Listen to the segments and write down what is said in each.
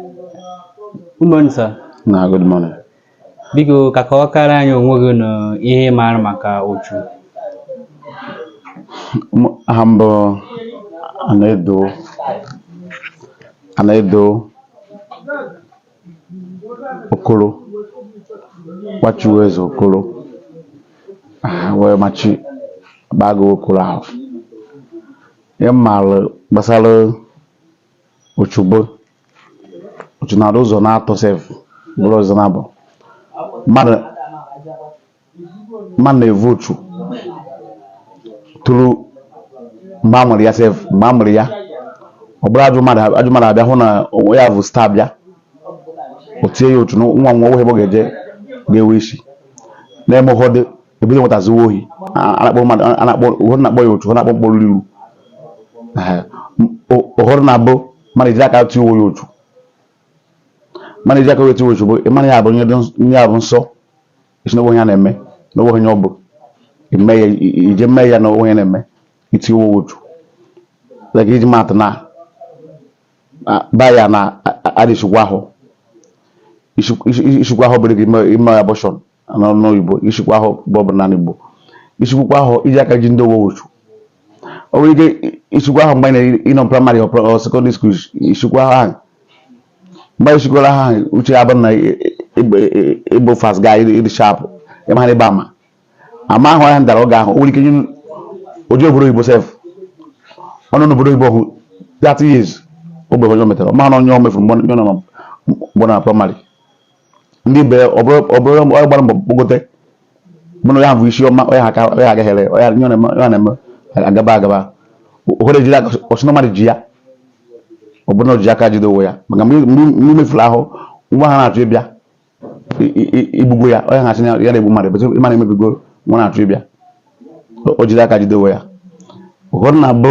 Good morning, sir. Na good morning. Biko ka kọwakara anyị onwe gị na ihe ị maara maka Uchu. M- Aha m bụ Anaedo Okoro nwa Chinweze Okoro Ah, wee machi Agbago Okoro ahụ. Ihe m maara gbasara uchu bụ uchu na-adị ụzọ na-atọ sef bụrụ ụzọ naabọ mmadụ mmadụ na-evu uchu tụrụ mgbe a mụrụ ya sef mgbe a mụrụ ya ọ bụrụ ajọ mmadụ abịa hụ na onwe ya bụ star bịa o tie ya uchu na nwa enweghị ebe ọ ga-eje ga-ewe isi na-eme ụfọdụ ebido nwata zuwa ohi a na-akpọ mmadụ a na-akpọ ụfọdụ na-akpọ ya uchu ụfọdụ na-akpọ mkpọrọ iru ụfọdụ na-abụ mmadụ ejiri aka tụọ ya uchu mmadụ ejiri aka wee tụọ uchu bụ ịmara ya bụ ihe a bụ nsọ ị sị na o nweghị ihe ya na-eme na o nweghị ihe ọ bụ ime ya ije mee ya na o nweghị ihe ya na-eme iti owo uchu like iji maa atụ na be anyị a dịghị esikwa ahụ isikwa ahụ bụrụ gị ime abortion n'ọnụ oyibo isikwa ahụ bụ ọ bụ na Igbo isikwukwa ahụ iji aka gị tie owe uchu o nwere ike isikwa ahụ mgbe ị nọ primary or secondary school isikwa ahụ mgbe isikwara ha ahụ uche ya bụrụ na ị bụ fast guy ị dị sharp ịma ha ebe ama ama ahụ ya dara oge ahụ o nwere ike nye o jee obodo oyibo sef ọ nọ n'obodo oyibo ahụ 30 years o nweghị ihe o metara mana ihe o mefuru mgbe ọ nọ na primary ndị be ya ọ bụrụ onye gbara mbọ kpọgote mụna ya bụ isi ọma onye aka onye agaghịrị onye na-eme agaba agaba ụfọdụ ejiri aka ọ sị na mmadụ ji ya ọ bụrụ na o ji aka jide onwe ya maka mgbe i mefuru ahụ nwa ahụ na-achọ ịbịa i gbugo ya onye ha sị ya na-egbu mmadụ bụtụ ị ma na i mebigo nwa na-achọ ịbịa o jiri aka jide onwe ya ụfọdụ na-abụ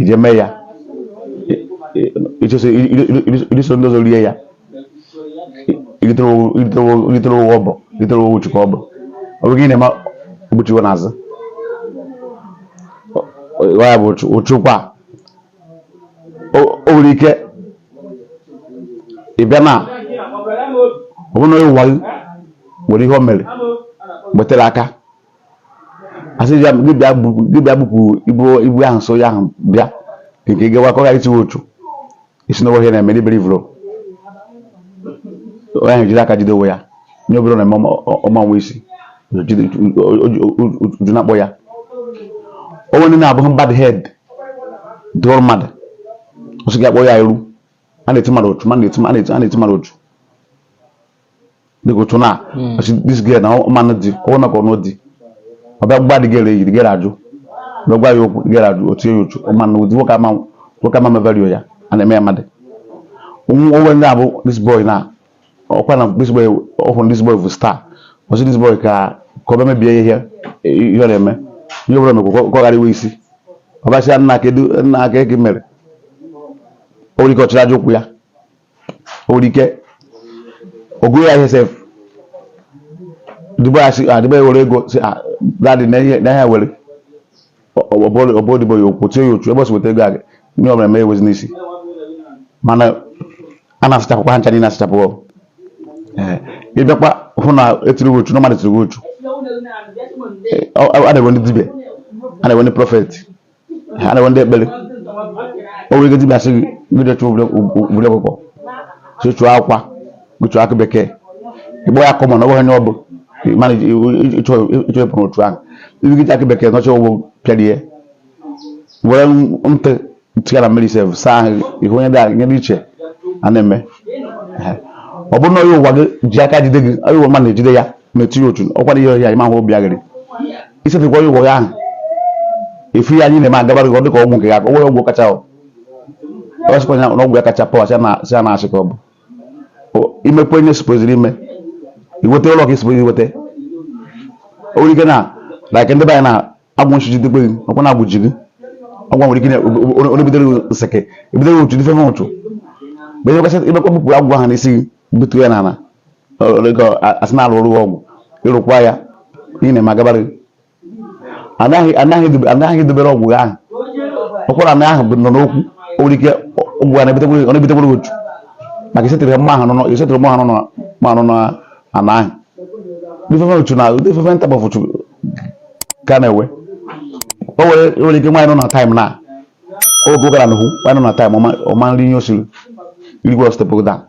ije mee ya ịchọsị iso ndị ọzọ rie ya i ritere owo ọ bụ i ritere owo uchu ka ọ bụ ọ bụ gị na-eme o gbochiwe n'azụ ya bụ uchu kwa o nwere ike ị bịa na ọ bụrụ na onye ụwa gị nwere ihe o mere gbetere aka asị ya gị bịa bu- gị bịa bupụ ibu ibu ahụ so ya ahụ bịa nke ị gawa ka ọ ghara itiwe uchu isi n'ụwa ihe na-eme n'iberi vụrụ onye ahụ jiri aka jide onwe ya nye obere na-eme ọma- ọma nwa isi jide- o- o- o- o- uchu na-akpọ ya o nwe ndị na-abụghị bad head dụrụ mmadụ ọ sị gị akpọ ya iru a na-eti mmadụ uchu ma na-eti a na-eti a na-eti mmadụ uchu dịka otu na hmm. this girl na ọ ma-anụ di ọ wụ na ka ọ nụ di ọ bịa gba the girl enyi the girl ajụ ọ bịa gwa ya okwu the girl ajụ o tie ya uchu ọ ma-anụ ụdị nwoke ama nwoke ama eme value ya a na-eme ya mmadụ o nwe ndị ọ bụ this boy na ọkwa na this boy ọ hụrụ this boy bụ star ọ sị this boy ka ka ọ bịa mebie ihe ihe ọ na-eme ihe ọbụla mekwa ka ọ ghara inwe isi ọbasịa nna ka edu nna ka eke mere o nwere ike ọ chịrị aja ụkwụ ya o nwere ike ogụrụ ya ihe sef odibo ya were ego see that na onye were ọ bụ odibo ya o kwuo tie ya uchu ebe o si weta ego a ihe ọbụla o mee enwezi isi mana a na-asachapụkwa ha ncha niile asachapụ ị bịakwa hụ na e tiri uchu na mmadụ tiri uchu a na-enwe ndị dibịa a na-enwe ndị prọfeti a na-enwe ndị ekpere o nwere ike dibịa sị gị gị je chọọ obere ọkụkọ sị chọọ akwa gị chọọ akụ bekee ị kpọọ ya common na ọ bụghị ihe ọ bụ mana ị chọọ ịpụ n'uchu ahụ ibi gị akụ bekee nọcha ụgbọ pịara ihe were ntị tigara mmiri sef saa ahụ ihu onye dị iche a na-eme ọ bụrụ na onye ụwa gị ji aka jide gị onye ụwa mmadụ na-ejide ya metụ ya uchu ọkwara ihe ọhịa ịma hụ obi aghịrị i settlekwa ya ụgwọ ahụ efu ya anyị na-eme agabara gị ọ dịka ọgwụ nke ya ọgwụ ọgwụ kacha ọ ọ sịkwa ya na ọgwụ ya kacha power si a na-asị ka ọ bụ imekwa onye supposeri ime inweta ụlọ ka ị suppose inweta o nwere ike na like ndị be anyị na agwụ nshi jidekwe gị ọkwa na agwụ ji gị ọgwụ nwere ike na onye bidoro nseke ebidoro otu dịfe ụtụ mgbe imekwa bupụrụ agwụ ahụ n'isi gị butu ya n'ala ego asị na a lụrụ agwụ ị rụkwa ya ihe ị na-eme agabara gị anaghị anaghị edobe- anaghị edobere agwụ gị ahụ ụkwara na ahụ bụ nọ n'okwu o nwere ike agwụ a na-ebutekwuru ọ na-ebutekwuru gị uchu maka isetere mma ahụ nọ isetere mma ahụ nọ ma nọ na ana ahụ different uchu na different ntabọfụ ka a na-enwe o nwere o nwere ike nwaanyị nọ na time na oge ọ gara n'ahụ nwaanyị nọ na time ọ ma nri ihe o siri i rikwe ọ step down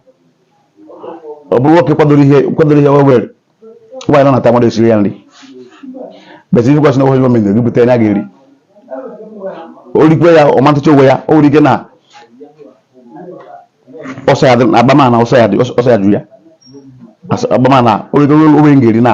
ọ bụrụ nwoke kwadoro ihe kwadoro ihe wewere nwaanyị nọ na time ọ na-esiri ya nri besi ihe kwasị na ohe gọọmenti gị bute onye ga-eri o rikwe ya ọ ma ntụcha onwe ya o nwere ike na ọsọ ya dị agbamana ọsọ ya dị ọsọ ya jụ ya agbamana o rikwe o nwe onye ga-eri na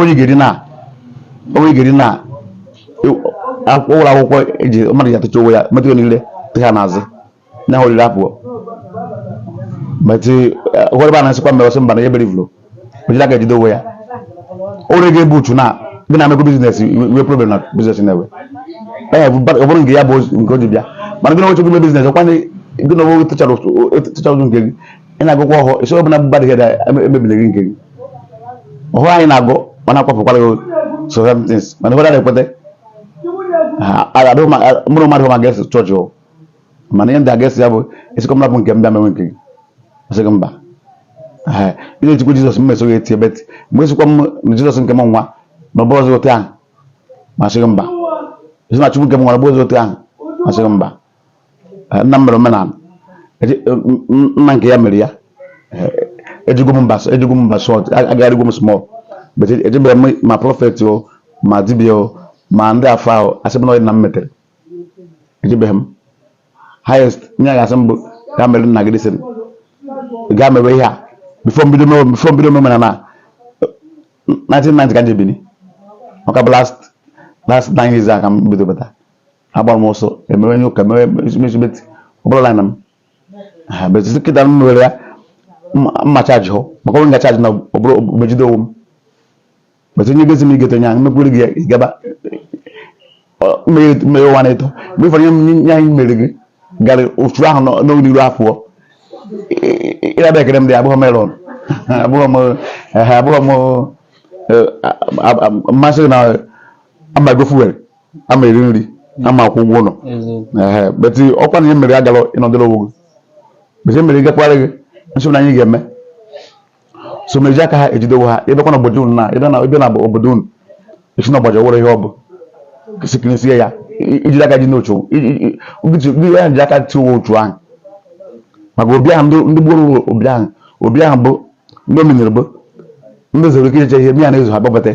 onye ga-eri na onye ga-eri na ụlọ akwụkwọ e ji mmadụ ji atụcha onwe ya metụ ya niile tụcha n'azụ na ahụ oriri apụọ but ụfọdụ ebe a na-asịkwa mba na ya ebere ifuru ojila ga-ejide onwe ya ore gị ebe uchu na gị na-emekọ business wee problem na business na-ewe ee ọ bụrụ nke ya bụ nke o ji bịa mana gị na nwoche gị ime business ọ kwa na gị na onwe tụchara ụzọ nke gị ị na-agụkwa ọhụụ isi ọ bụla bụ badị heda emebile gị nke gị ọhụụ anyị na-agụ mana akwafukwara gị so somethings mana ụfọdụ na-ekweta mụrụ mmadụ ma ga-eso chọọchị mana ihe ndị a ga-asị ya bụ asịkwa m rapụ nke m bịa mewe nke gị ọ sị gị mba ihe e jikwa jizọs m mesoghị eti but mgbe a sịkwa m na jizọs nke m nwa na ọ bụ ọzọ otu ahụ m asị gị mba a sị na chukwu nke m nwa na ọ bụ ọzọ otu ahụ m asị gị mba nna m mere omenala nna nke ya mere ya ejego m mba ejego m mba short agagharịgo m small ejebeghị m ma prophet o ma dibịa o ma ndị afa ahụ asị m na ọ dị na m metere ejebeghị m highest ihe ọ ga-asị m bụ gaa meere nna gị this thing gaa mewe ihe a before m bido mewe before m bido mewe na na 1990 ka njebini maka bụ last last nine years a ka m bido bata agbara m ọsọ emewe ihe ụka mewe mechibeti ọ bụla line m ha but since kịta m mewere ya mma chaji hụ maka onwe nga chaji na ọ bụrụ m ejide onwe m but onye gosi m i gote onye ahụ mekwere gị ya ị gaba mmeghe ụwa na-eto mgbe ụfọdụ ihe nye anyị mere gị gara ofu ahụ n'oge n'iru afọ ịraba ekere m dị abụghị m iron abụghị m ehe abụghị m machine na ama ego fuel ama eri nri ama akwụ ụgwọ ụlọ ehe but ọ kwa na ihe mere agara ịnọdụrụ onwe gị but ihe mere ị gakwara gị nsogbu na anyị ga-eme so meji aka ha ejidewo ha ị bịakwa na obodo unu na ị bịa na ị bịa na obodo unu a sị na ọgbaji ọwụrụ ihe ọ bụ sikirisie ya i jiri aka gị n'otu gị ya ji aka tiwe otu ahụ maka obi ahụ ndị ndị gburu obi ahụ obi ahụ bụ ndị omenere bụ ndị zuru ike iche ihe mmiri na-ezo ha gbabata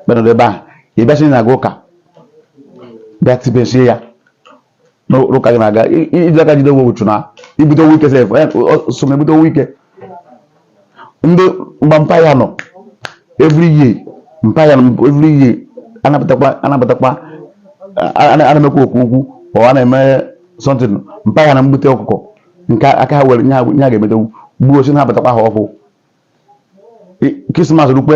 bịa nọdụ ebe ahụ ị bịasị na-aga ụka bịa tibesie ya n'ụka gị na-aga i ji aka jide onwe uchu na ibute onwe ike sef eh, so na ebute onwe ike ndị mgbe mpa ya nọ every year mpa ya nọ every year a na-abatakwa a na-abatakwa a na-emekwa okwu okwu ọ a na-eme something mpa ya na-ebute ọkụkọ nke aka ha were nye ha ga-emete ewu gbuo si na-abatakwa ha ọkụ krismas rukwe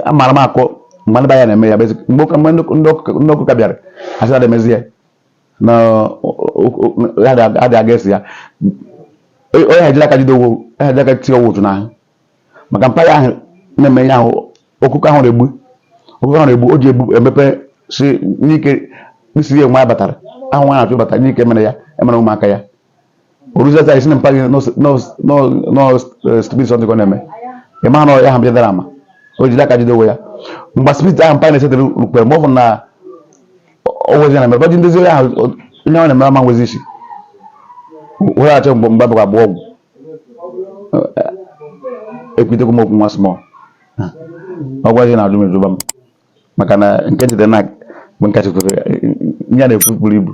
amara m akọ mgbe ndị ya na-eme ya bezi mgbe ndị ọkụ ka bịara a sị na emezi ya na adị aga esi ya onye ha jiri aka jide onwe ha jiri aka tie onwe otu n'ahụ maka mpa ya ahụ na-eme ihe ahụ ọkụkọ ahụ na-egbu ọkụkọ ahụ na-egbu o ji egbu emepe si n'ike isi ya nwa ya batara ahụ nwa na-achụ bata n'ike mere ya emere ụmụaka ya oruzata isi na mpa gị n'ọstipiti ọdịkọ na-eme ị ma na ya ha bịadara ama o jiri aka jide onwe ya mgbe spirit ahụ mpa na-esetara rukpere mgbe ọ bụ na ọwezi na mere bọji ndị zere ahụ onye ọ na-emere ama nwezi isi were achọ mgbe mgbe abụghị abụọ ọgwụ ekwutekwa m okwu nwa small ọ gwazi na ajụ m ejuba m maka na nke jide na mgbe nkachi kwere ya na-ekwu buru ibu